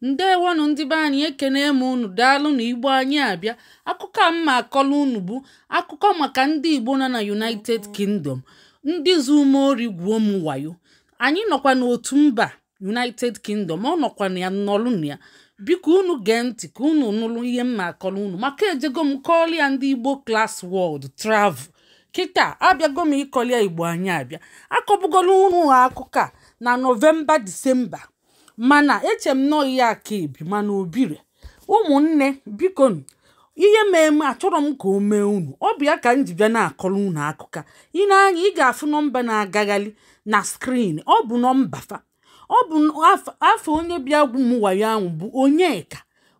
ndewonụ ndị be anyị ekene m unu daalụnụ igbo anyị abịa akụkọ a m ma-akọlụ unu bụ akụkọ maka ndị igbo nọ na united kingdom ndị zu m ori gwuo m wayo anyị nọkwa n'otu mba united kingdom ọ nọkwa na ya nọlụ na ya biko unu gee ntị ka unu nụrụ ihe m ma-akọlụ unu maka ejego m kọọlụ ya ndị igbo class world travel kịta abịago m ịkọlụ ya igbo anyị abịa akọbugolu unu ha akụkọ a na nọvemba disemba mana eche m na ọ ihe a ka ebi mana o bire ụmụnne biko ihe mee m achọrọ m ka o mee unu ọ bụ ya ka m ji bịa na-akọrọ unu akụkọ i nee anya ị ga-afụ nọmba na-agagharị na screen ọ bụ nọmba fa ọ bụ afa onye bịa gwuo m wayo ahụ bụ onyeka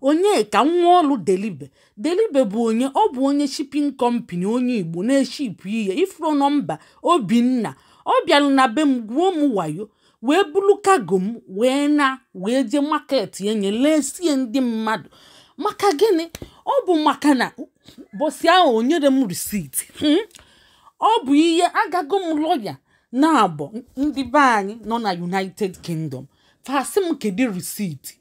onyeka nwolu delibe delibe bụ onye ọ bụ onye shipping company onye igbo na-eshipụ ihe ị fụrọ nọmba obinna ọ bịara na be m gwuo m wayo wee bulu cargo m wee na wee jee market enye lesie ndị mmadụ maka gịnị ọ bụ maka na ụbọsị ahụ o nyere m receipt hmm? ọ bụ ihe agago m lawyer naabọ ndị be anyị nọ na united kingdom fa sị m kedu receipt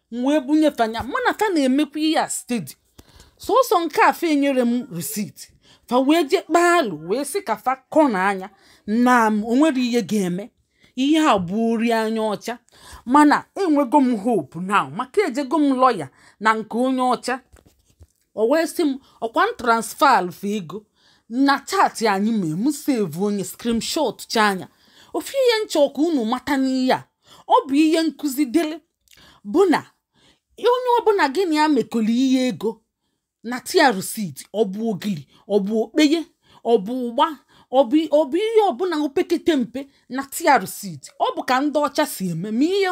m wee bunye fa nya mana fa na-emekwa ihe a steady sọsọ nke a fa enyere m receipt fa wee jee kpaa alụ wee sị ka fa kọ n'anya na o nwere ihe ga-eme ihe a bụ ori anya ọcha mana enwego m hope now maka ejego m lawyer na nke onye ọcha o wee sị m ọkwa m transfaalụ fa ego na chat anyị mee m sevuo nya screenshot chaa nya ofu ihe m chọ ka unu mata n'ihe a ọ bụ ihe nkụzi dịrị bụ na onye ọbụla gị na ya mekọrọ ihe ego nata ya receipt ọ bụ ogili ọ bụ okpeye ọ bụ ụgba ọ bụ ihe ọbụla opekete mpe nata ya receipt ọ bụ ka ndị ọcha si eme ma ihe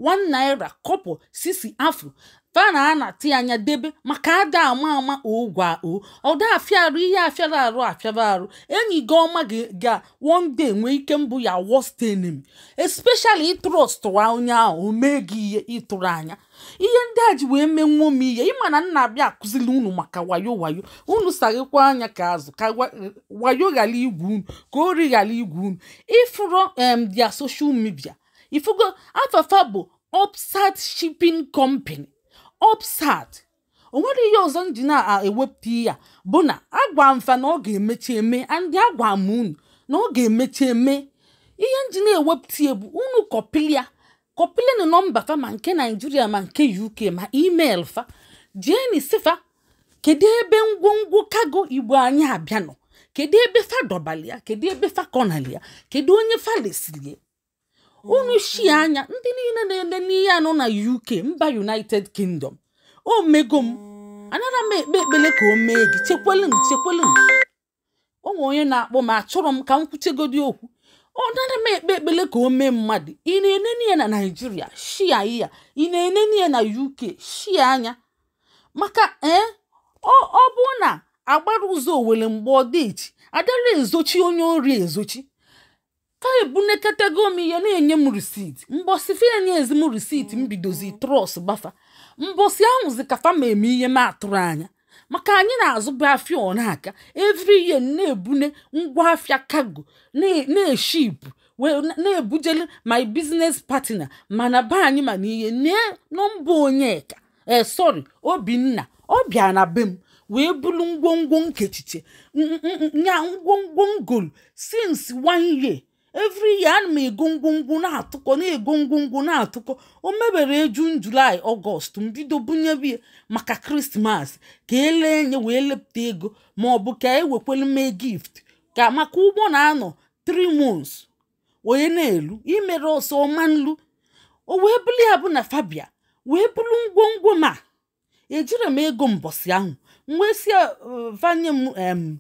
one naira kọpọ sisi afụ fa na-anata nya debe maka a da-ama ama ọkwa o ọ da-afịa arụ ihe afịara arụ afịara arụ enyi gị ọma gị ga one day nwee ike ịbụ your worst enemy especially ị trọstụwa onye ahụ o mee gị ihe ị tụrụ anya ihe ndị a ji wee menwuo m ihe ị ma na m na-abịa akụzili unu maka wayo wayo unu saghekwa anya ka azụ ka wa- wayo ghara igwu unu ka ori ghara igwu unu ị fụrụ em their social media ị fụgo afa fa bụ Opsat Shipping Company Opsat o nwere ihe ọzọ m ji na-ewepụta ya bụ na agwa m fa na ọ ga-emechi eme and agwa m unu na ọ ga-emechi eme ihe m ji na-ewepụta ya bụ unu kọpịlị ya kọpịlịnụ nọmba fa ma nke nigeria ma nke uk ma email fa jeenụ sị fa kedu ebe ngwongwo cargo igbo anyị abịa nọ kedu ebe fa dọbali ya kedu ebe fa kọnali ya kedu onye fa lesiri ya unu shi anya ndị niile na-ele ihe a nọ na uk mba united kingdom o mego m anara m ekpe ekpele ka o mee gị chekwelu m chekwelu m o nwere onye na-akpọ m achọrọ m ka m kwuchegodi okwu anara m ekpe ekpele ka o mee mmadụ ị na-enene ya na naijiria shi anya ị na-enene ya na uk shi anya maka ee ọ bụ na agbara ụzọ owele mgba ọ dị echi adara ezochi onye ori ezochi fa ebunekatago m ihe na-enye m receipt mbọsị fa enyezi m receipt m bidozi trust gba fa mbọsị ahụzi ka fa ma eme ihe m atụrụ anya maka anyị na-azụbu afịa ọ na-aka every year na-ebune ngwa afịa cargo na-eship na-ebujele my business partner m na be anyị mana ihe nee nọmba onyeka ee eh, sorry obinna ọ bịa na be m wee bulu ngwongwo m kechiche nya ngwongwo m golu since one year every year ana m ego ngwongwo na-atụkọ na-ego ngwongwo na-atụkọ o mebere june july august m bido bunyebe ya maka christmas ka e lee nya wee lepụta ego ma ọ bụ ka e wekwelu mee gift ka maka ụgbọ na-anọ 3 months onye na-elu imere ọsọ ọ ma nalu o wee bụrụ ya bụ na fa bịa wee bulu ngwongwo m a ejiri m ego mbọsị ahụ m wee si uh, fa nye m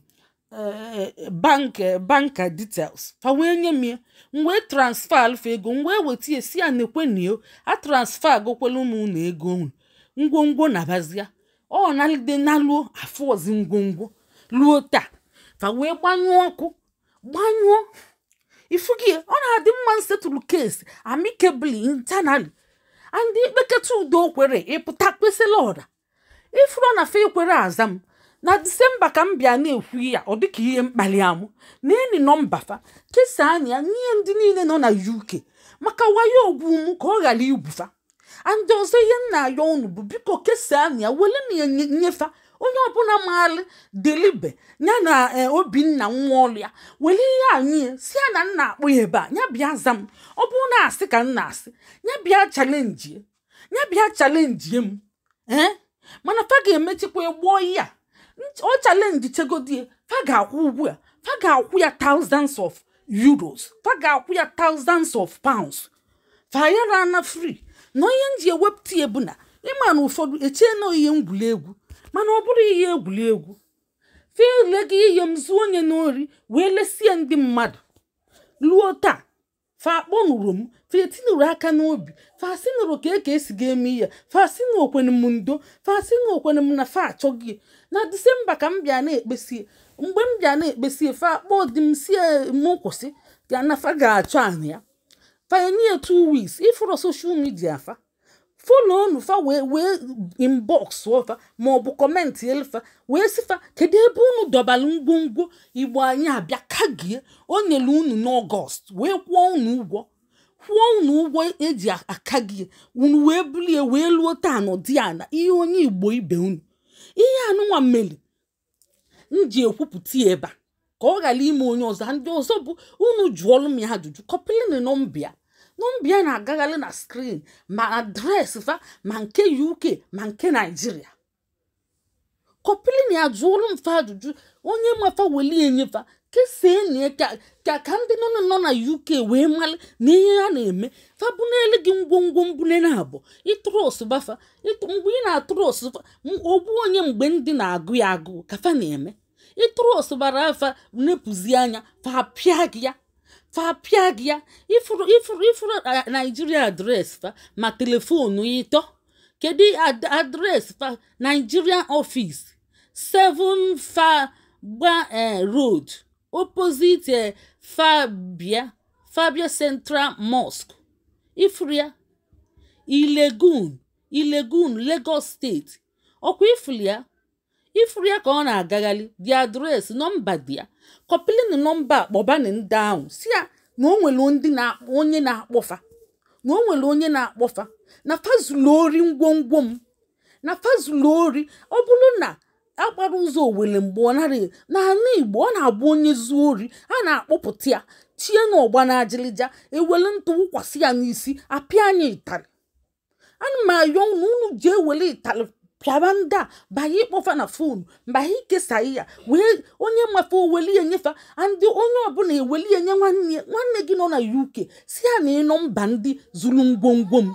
uh, bank uh, bank details fa wee nye m ya m wee transferalụ fa ego m wee weta ya si ya nekweni o atransfergokwelu m unu ego m ngwongwo nabazia ọ nalide naluo afụzi ngwongwo luo taa fa wee gbanyụọ ọkụ gbanyụọ ị fụgo ya ọ na-adị mma m settle case amicably internally and i kpeketa udo kwere ị pụta kpesala ọra ị fụrụ na fe ekwere aza m na disemba ka m bịa na-ekwu ya ọ dịka ihe mkpali amụ neeni nọmba fa kesaanị ya nye ndị niile nọ na uk maka wayo o gwu m ka ọ ghara igwu fa and ọzọ ihe m na-ayọ unu bụ biko kesaanị ya wereni ya nye fa onye ọbụla maara delibe ya na eh, obinna nwa ọlụ ya were ihe a nye ya si ya na m na-akpọ ya ebe a ya bịa za m ọ bụrụ na asị ka m na-asị ya bịa challenge ya bịa challenge m ee eh? mana fa ga-emechikwa gboo ya ọ challenge chegodie fa ga-akwụ ụgwọ ya fa ga-akwụ ya thousands of euros fa ga-akwụ ya thousands of pounds fa yara ana free na ihe m ji ewepụta ya bụ na ị ma na ụfọdụ echee na ihe egwuregwu mana ọ bụrụ ihe egwuregwu fe elego ihe m zuo nya n'ori wee lesie ndị mmadụ ruo taa fa akpọnụrọ m fa etinụrụ aka n'obi fa sinụrụ ka eke esi ga-eme ya fa sinụ okwene m ndo fa sinụ okwene m na fa achọghị na disemba ka m bịa na-ekpesi mgbe m bịa na-ekpesi fa akpọ di m si ya m kwụsị ya na fa ga-achọ anụ ya fa enye ya two weeks ị fụrụ social media fa follow nụ fa wee inbox fa ma ọ bụ commentiel fa wee sị fa kedu ebe unu dọbara ngwongwo igbo anyị abịa kagie o nyere unu n'ọgọst wee kwụọ unu ụgwọ kwụọ unu ụgwọ eji akagie unu wee bulie wee luo taa nọdị ya na ihe onye igbo ibe unu ihe a nụnwa meli m ji ekwupụta ya ebe a ka ọ ghara ime onye ọzọ ndị ọzọ bụ unu jụọlụ m ya ajụjụ copylịnụ nọmba a nọmba a na-agagharị na screen ma adreesị fa ma nke uk ma nke naijiria copylịnụ ya jụọlụ m fa ajụjụ onye ma fa weli ya nye fa kesaanị ya ka- ka ka ndị nọ na- nọ na uk wee mara na ihe ha na-eme fa bunele gị ngwongwo mbụ na nabọ ị trustụba fa mgbe ị na-atrustụ fa ogbu onye mgbe ndụ na-agụ ya agụụ ka fa na-eme ị trustụbara fa nepụzi anya fa pịa gị ya fa pịa gị ya ị fụrụ ị fụrụ ị fụrụ naijiria adreesị fa ma telefonu ịtọ kedu adreesị fa nigerian office 7 fagba eh, road opposite eh, fabia fabia central mosque ị fụrụ ya ilegun ilegun Lagos state ọ kwa ị fụrụ ya ị fụrụ ya ka ọ na-agagharị the address nọmba dị ya copylịnụ nọmba a kpọbanị ndị ahụ si ya na o nwere ndị na-akpọ onye na-akpọ fa na o nwere onye na-akpọ fa na fa zulu ori ngwongwo m na fa zulu ori ọ bụrụ na agbarọ ụzọ owele mgba ọ narọ n'ala igbo ọ na-abụ onye zuo ori a na-akpọpụta ya chie n'ọgba na ajịlịja e wele ntụ wụkwasị ya n'isi a pịa ya ịtarị ana m ayọ unu unu ji ewele ịtarị pịaba ndị a banye ịkpọ fa na fonu banye ikesa ya wee onye ma fa o weli ya nye fa ndị onye ọbụla eweli ya nye nwanne ya nwanne gị nọ na uk si ya nee nọmba ndị zuru ngwongwo m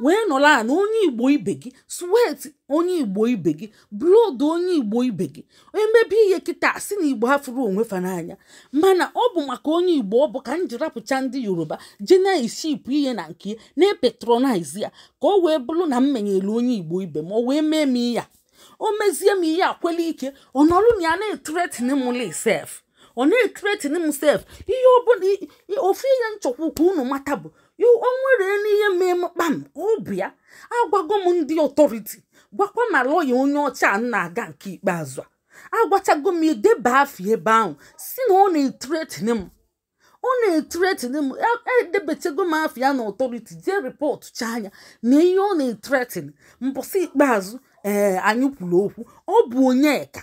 wee nọrọ a na onye igbo ibe gị sweat onye igbo ibe gị blood onye igbo ibe gị e mebe ihe kịta si na igbo afụrọ onwe fa n'anya mana ọ bụ maka onye igbo ọ bụ ka m ji rapụcha ndị yoruba je na-eshipụ ihe na nke ya na-epatronize ya ka ọ wee bụrụ na m menyere onye igbo ibe m ọ wee mee m ihe a o mezie m ihe akwela ike ọ nọrụ na ya na-ethreateni mụ lị sef ọ na-etretin m sef ihe ọbụla ofu ihe m chọkwu ka unu mata bụ o nwere n'ihe mee m kpam ọ bụ ya agwago m ndị authority gwakwa ma lọya onye ọcha a na-aga nke ikpeazụ a agwachago m edeba afa ebe ahụ si na ọ na-etretin m ọ na-etretin m edebechago m afa ya na authority jee rịpọtụchaa ya na ihe ọ na-etretin mbọsị ikpeazụ ee anyị kwuru okwu ọ bụ onyeka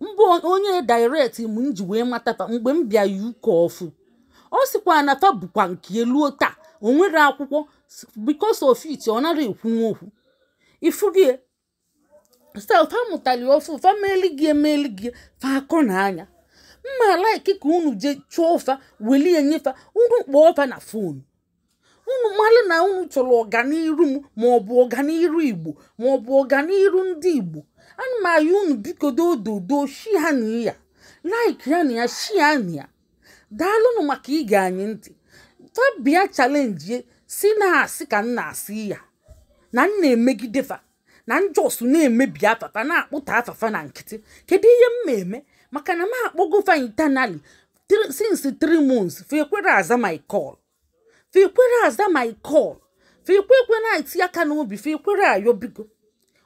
mbụ onye direct m m ji wee mata fa mgbe m bịa UK ọfụ ọ sịkwa na fa bụkwa nke eluo taa o nwere akwụkwọ because of it ọ nara ekwunwu okwu ị fụgo ihe style fa mụtali ọfụ fa meli gị emeli gị fa akọ na anya mma like ka unu jee chụọ fa welie nye fa unu kpọọ fa na fonu unu mara na unu chọrọ ọganiru m ma ọ bụ ọganiru igbo ma ọ bụ ọganiru ndị igbo ana m ayọ unu biko dododo share nụ ya like nụ ya share nụ ya daalụnụ maka ige anyị ntị fa bịa chalenjie sị na asị ka m na-asị ya na m na-emegide fa na m just na-emebi afa fa na-akpọta afa fa na nkịtị kedu ihe m ma eme maka na m akpọgo fa internally since three months fa ekwere aza my call fa ekwere aza my call fa ekwe ekwe na-eti aka n'obi fa ekwere ayọ biko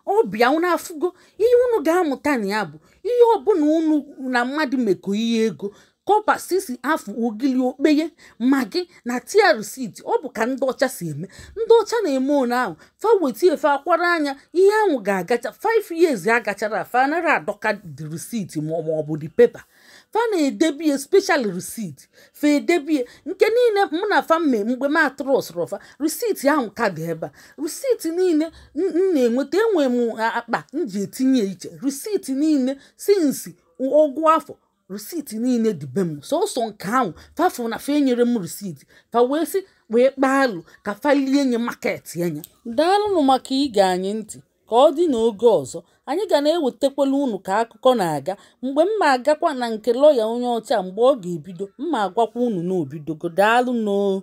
ọ bụ ya unu afụgo ihe unu ga-amụta na ya bụ ihe ọbụla unu na mmadụ mekọ ihe ego kọpa sisi afụ ogili okpeye magi nata ya receipt ọ bụ ka ndị ọcha si eme ndị ọcha na-eme one ahụ fa wetie fa akwara anya ihe ahụ ga-agacha 5 years agachara fa nara adọka the receipt ma ọ bụ the paper fa na-edebie special receipt fa edebie nke niile mụ na fa mee mgbe m atrustrọ fa receipt ahụ ka dị ebe a receipt niile m na-enweta enwe m akpa m ji etinye iche receipt niile since ọgụ afọ receipt niile dị be m sọsọ nke ahụ fa fụ na fa enyere m receipt fa wee sị wee kpaa alụ ka fa lie nye maketị anya daalụnụ maka ige anyị ntị ka ọ dị n'oge ọzọ anyị ga na-ewetakwala unu ka akụkọ na-aga mgbe m ma agakwa na nke lọya onye ọcha mgbe ọ ga-ebido m ma agwakwa unu na o bidogo daalụnụ o